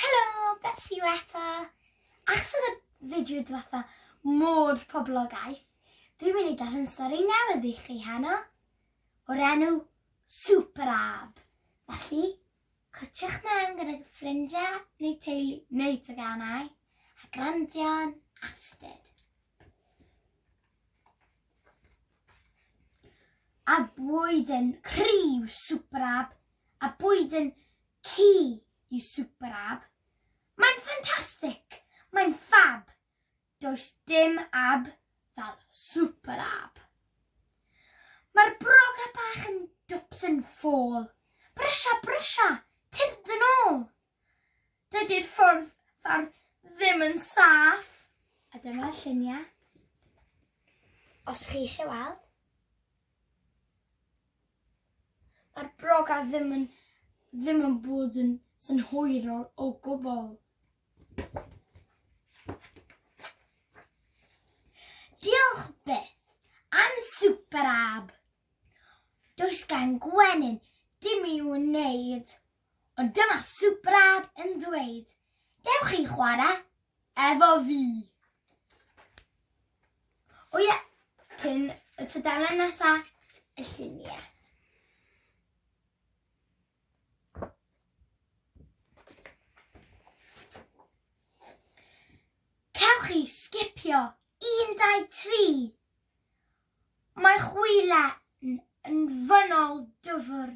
Helo, Betsi yw eto. Achos oedd y fideo diwetha mor poblogaeth, dwi'n mynd i darllen stori newydd i chi heno, o'r enw Super Ab. Felly, cwtiwch mewn gyda ffrindiau neu teulu neu teganau a grandio'n astud. A bwyd yn criw Super Ab, a bwyd yn Ci yw Super Ab. Mae'n ffantastig! Mae'n ffab! Does dim ab fel Super Ab. Mae'r broga bach yn dwps yn ffôl. Brysia, brysia! Tyrd yn ôl! Dydy'r ffordd ffordd ddim yn saff. A dyma lluniau. Os chi eisiau weld. Mae'r broga ddim yn ddim yn bod yn synhwyrol o gwbl. Diolch byth am Super Ab. Does gan Gwenyn dim i'w wneud Ond dyma Subraab yn dweud, Dewch chi chwarae efo fi. O ie, cyn y tudalen nesa, y lluniau. Cewch chi sgipio 1, 2, 3. Mae chwilen yn fynol dyfr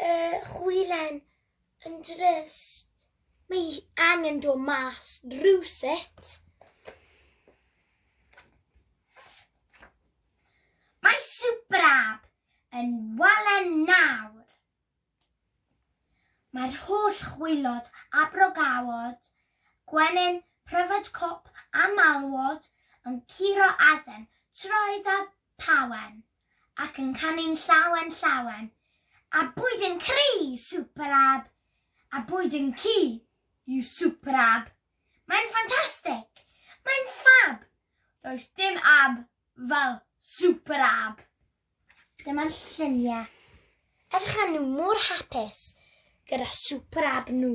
Y chwilen yn drist. Mae hi angen dod mas rhywsut. Mae Superab yn walen nawr. Mae'r holl chwilod a brogawod, gwenyn, pryfed cop a malwod yn curo aden, troed a pawen. ac yn canu'n llawen llawen, a bwyd yn cry you super ab, a bwyd yn ci you super ab. Mae'n ffantastig! Mae'n ffab! Does dim ab fel super ab! Dyma'r lluniau. Edrych a nhw mor hapus gyda super ab nhw.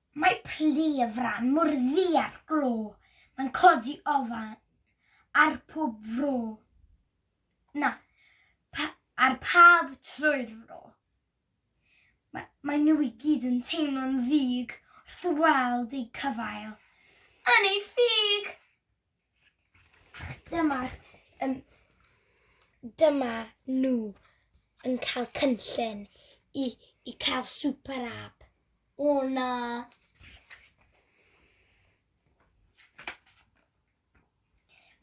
Mae plu y fran mor ddu a'r glo, mae'n codi ofan ar pob fro, na, pa, ar pawb trwy'r fro. Ma, mae nhw i gyd yn teimlo'n ddig wrth weld eu cyfail yn eu ffug! Dyma'r um, dyma nhw yn cael cynllun i, i cael super app. O na.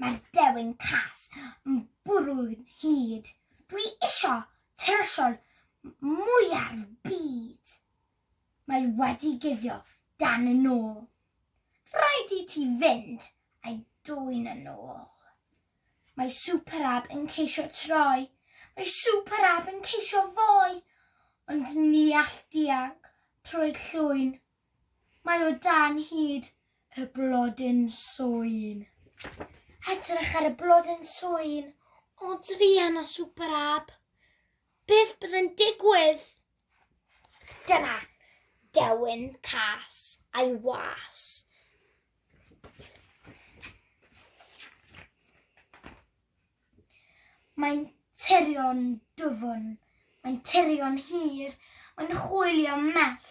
Mae'r dewin cas yn bwrw'n hyd. Dwi isio tyrsiol mwyaf byd. Mae wedi guddio dan y nôl. Rhaid i ti fynd a'i dwyn yn ôl. Mae Superab yn ceisio troi, mae Superab yn ceisio foi, ond ni all dianc trwy'r llwyn. Mae o dan hyd y blodyn swyn. Edrych ar y blodyn swyn o druan o Superab. Beth bydd yn digwydd? Dyna dewin cas a'i was. Mae'n tirio'n dwfn, mae'n tirio'n hir, mae'n chwilio mell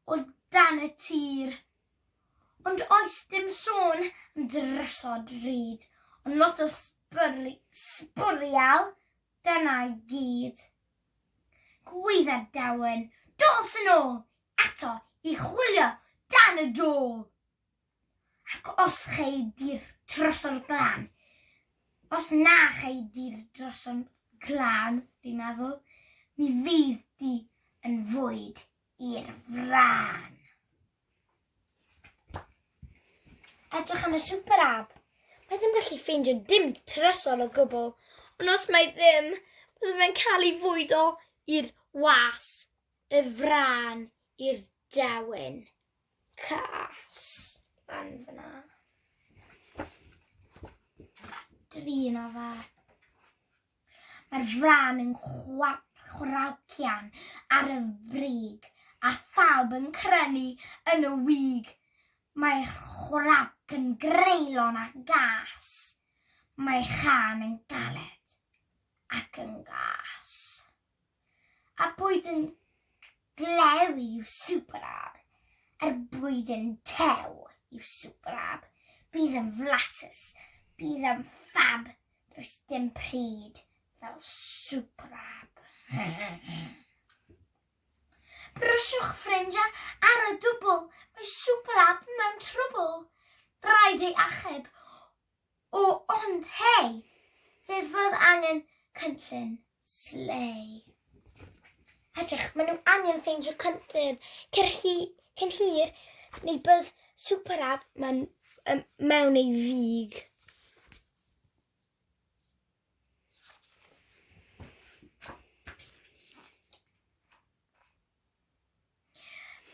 o dan y tir. Ond oes dim sôn am drysod ryd, ond lot o sbwriel Dyna i gyd. Gwaetha'r dawen, dos yn ôl eto i chwilio dan y dôl. Ac os chei di'r troso'r glan, os na chei di'r droso'n glan, fi'n meddwl, mi fydd di yn fwyd i'r frân. Edrych yn y Super App. Mae ddim gallu ffeindio dim trysor o gwbl, ond os mae ddim, bydd fe'n cael ei fwydo i'r was, y frân, i'r dewin. cas lan fyna. Drin o fe. Mae'r fran yn chwraucian ar y brig a phawb yn crynu yn y wig. Mae'r chwrac yn greulon a gas. Mae chan yn galed ac yn gas. a bwyd yn glew i'w superab, er bwyd yn tew i'w superab, bydd yn flasus, bydd yn ffab, does dim pryd fel superab. Bryswch ffrindiau ar y dwbl, mae Superab mewn trwbl. Rhaid ei achub, O ond hei! Fe fydd angen cynllun. Slei. Edrych, maen nhw angen ffeindio cynllun cyn hi, cyn hir neu bydd Super Ab mewn, um, mewn ei fig.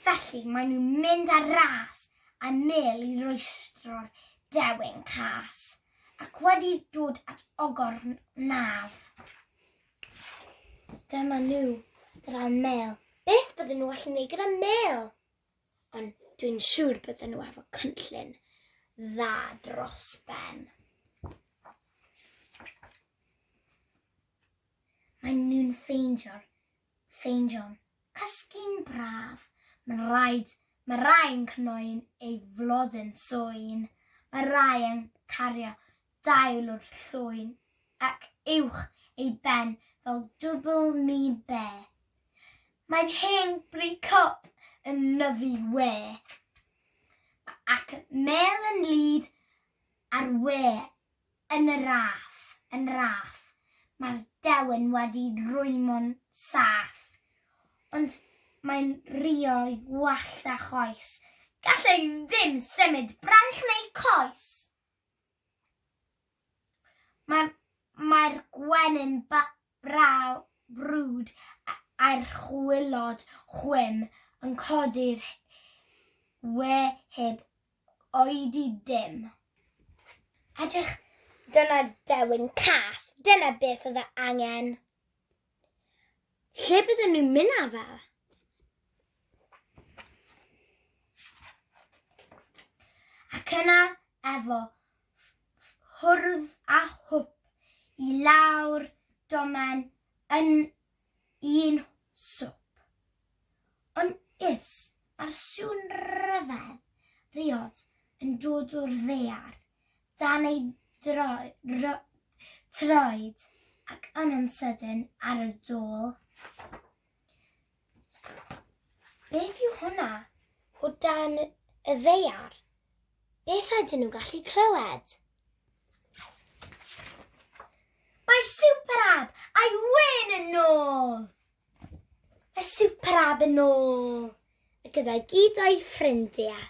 Felly maen nhw'n mynd ar ras a mêl i rwystro'r dewin cas, ac wedi dod at ogor naf. Dyma nhw gyda mêl. Beth bydden nhw allu gwneud gyda mêl? Ond dwi'n siŵr bydden nhw efo cynllun dda dros ben. Maen nhw'n ffeindio'r Ffeindion, cysgu'n braf, mae'n rhaid, mae rai yn cnoi'n ei flodyn swyn, mae rai yn cario dail o'r llwyn ac uwch ei ben fel dwbl mi be. Mae'n hen bri cop yn nyfu we. Mae ac mel yn lyd ar we Yn y raff, yn raff, mae'r dewin wedi rwymo'n saff, ond mae'n rio'i wallt a choes, gall e ddim symud braich neu coes. Mae'r, mae'r gwenyn ba, braw, brwd a'r chwilod chwim yn codi'r we heb oedi dim. Edrych dyna dewin cas, dyna beth oedd e angen. Lle bydden nhw'n mynd â fe? Ac yna efo hwrdd a hwp i lawr domen yn un swp. Yn is, mae'r sŵn ryfedd riod yn dod o'r ddaear, dan ei troed ac yn yn sydyn ar y dôl. Beth yw hwnna o dan y ddeiar? Beth ydyn nhw'n gallu clywed? Mae Superab a'i wyn yn ôl! Mae Superab yn ôl! A gyda gyd o'i ffrindiau.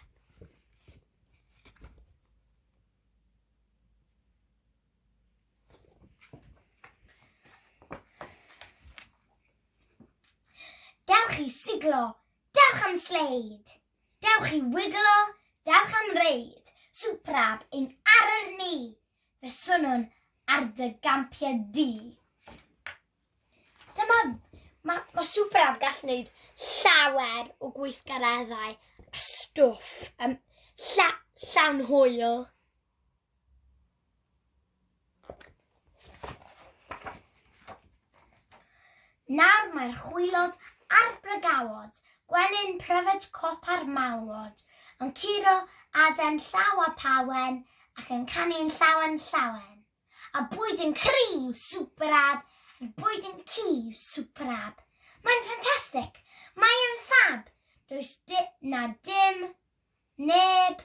Dewch i siglo, dewch am sleid, dewch i wiglo, dewch am reid, swprab yn arwyr ni, fe swnwn ar dy gampiau di. Dyma, mae ma swprab gall wneud llawer o gweithgareddau a stwff um, lla, llawn hwyl. Nawr mae'r chwilod a'r brygawod, gwenyn pryfed cop a'r malwod, yn curo aden llaw a phawen ac yn canu'n llawen llawen. A bwyd yn cri yw Super Ab, a'r bwyd yn ci yw Super Ab. Mae'n ffantastig! Mae'n ffab! Does na dim neb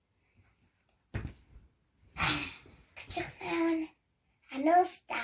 Edrych mewn a nos da.